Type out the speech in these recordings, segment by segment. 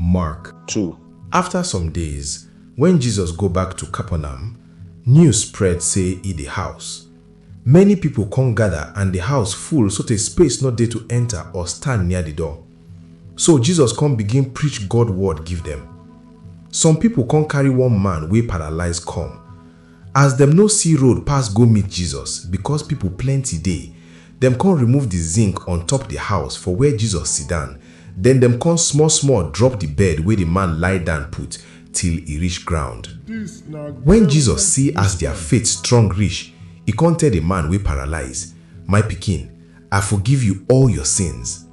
Mark. Two, Afta some days, wen Jesus go back to Capernaum, news spread sey e dey house. Many pipo con gada and di house full sotey space nor dey to enta or stand near di door. So Jesus con begin preach God word give dem. Some pipo con carry one man wey paralize kom. As dem no si road pass go meet Jesus bikos pipol plenty dey, dem kon remove di zink on-top di house for where Jesus sidan, den dem kon small-small drop di bed wey di man lie down put till e rish ground. Wen Jesus si as dia faith strong rish, e kon tell di man wey paralize, My pikin, I forgive yu all yor sins.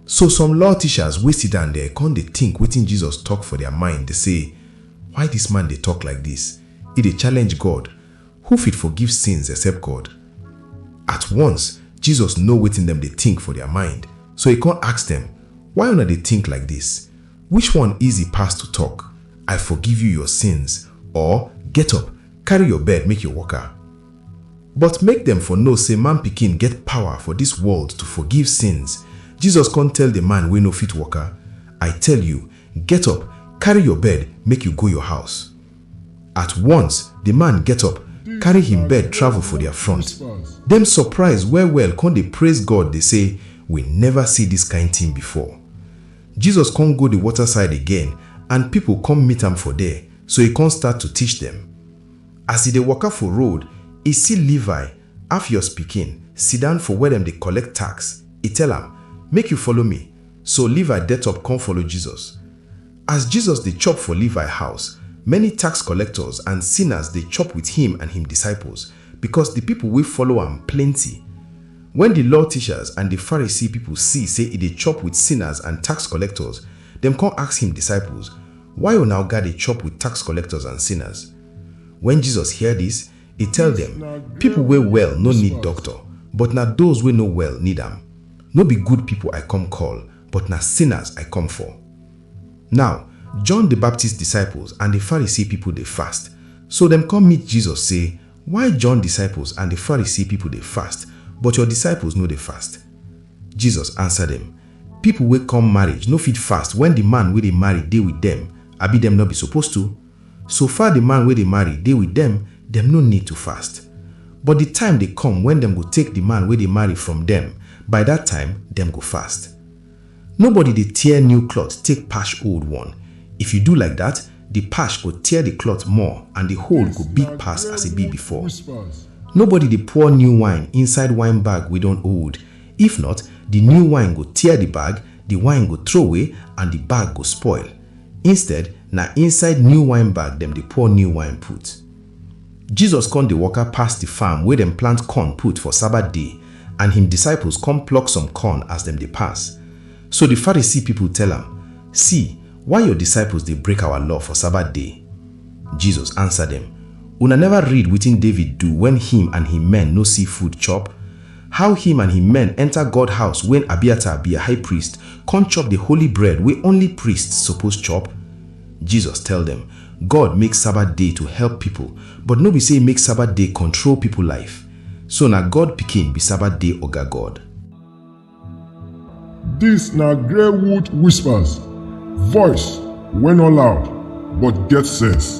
So some law teachers wey sidan der kon dey tink wetin Jesus tok for dia mind dey sey, Why dis man dey tok like dis? E dey challenge God! Who fit forgive sins except God? At once, Jesus know wetin dem dey tink for dia mind, so e kon ask dem, Why una dey tink like dis? Which one easy pass to tok, I forgive you your sins, or, Get up, karry your bed make your waka? But make dem for know sey Man Pikin get pawa for dis world to forgive sins. Jesus kon tell di man wey no fit woka, I tell yu, get up, karry yor bed, make yu go yor house. At wons, di man get up, karry hin bed travel for dia front. Dem sopraiz well-well kon dey praiz God dey sey, We neva si dis kain tin before. Jesus kon go di wota-side again and pipol kom meet am for der, so e kon start to tish dem. As e dey waka for road, e see Levi, Alphaeus pikin, siddan for where dem dey collect tax. E tell am, Make you follow me. So Levi det up con follow Jesus. As Jesus dey chop for Levi house, many tax collectors and sinners dey chop with him and him disciples, because the people wey follow am plenty. When the law teachers and the Pharisee people see say e dey chop with sinners and tax collectors, dem con ask him disciples, Why una oga dey chop with tax collectors and sinners? Wen Jesus hear dis, e tell dem, Pipo wey well no need doctor, but na doz wey no well need am. No be good pipo I come call, but na sinners I come for. Naw, John di Baptist disciples and di Pharisee pipo dey fast. So dem come meet Jesus sey, Why John disciples and di Pharisee pipo dey fast, but your disciples no dey fast? Jesus ansa dem, People wey come marriage no fit fast when the man wey dey marry dey with them, abi dem no be suppose to? So far the man wey dey marry dey with them, dem no need to fast. But the time dey come when dem go take the man wey dey marry from them, by that time dem go fast. Nobody dey tear new cloth take patch old one, if you do like that, the patch go tear the cloth more and the hole go big pass as e be before. Nobody dey pour new wine inside wine bag wey don old, If not, di new wine go tear di bag, di wine go throway and di bag go spoil. Instead, na inside new wine bag dem dey pour new wine put. Jesus kon dey waka pass di farm wey dem plant corn put for Sabbath day and him disciples kon pluck some corn as dem dey pass. So di Pharisee pipol tell am, See, why your disciples dey break our law for Sabbath day? Jesus ansa dem, Una neva read wetin David do wen him and him men no see food chop? How him and him men enter God house when Abiathar be high priest con chop the holy bread wey only priests suppose chop? Jesus tell dem, God make Sabbath day to help people but no be say make Sabbath day control people life. So na God pikin be Sabbath day oga God. Dis na Greywood Whispers, voice wey no loud but get sense.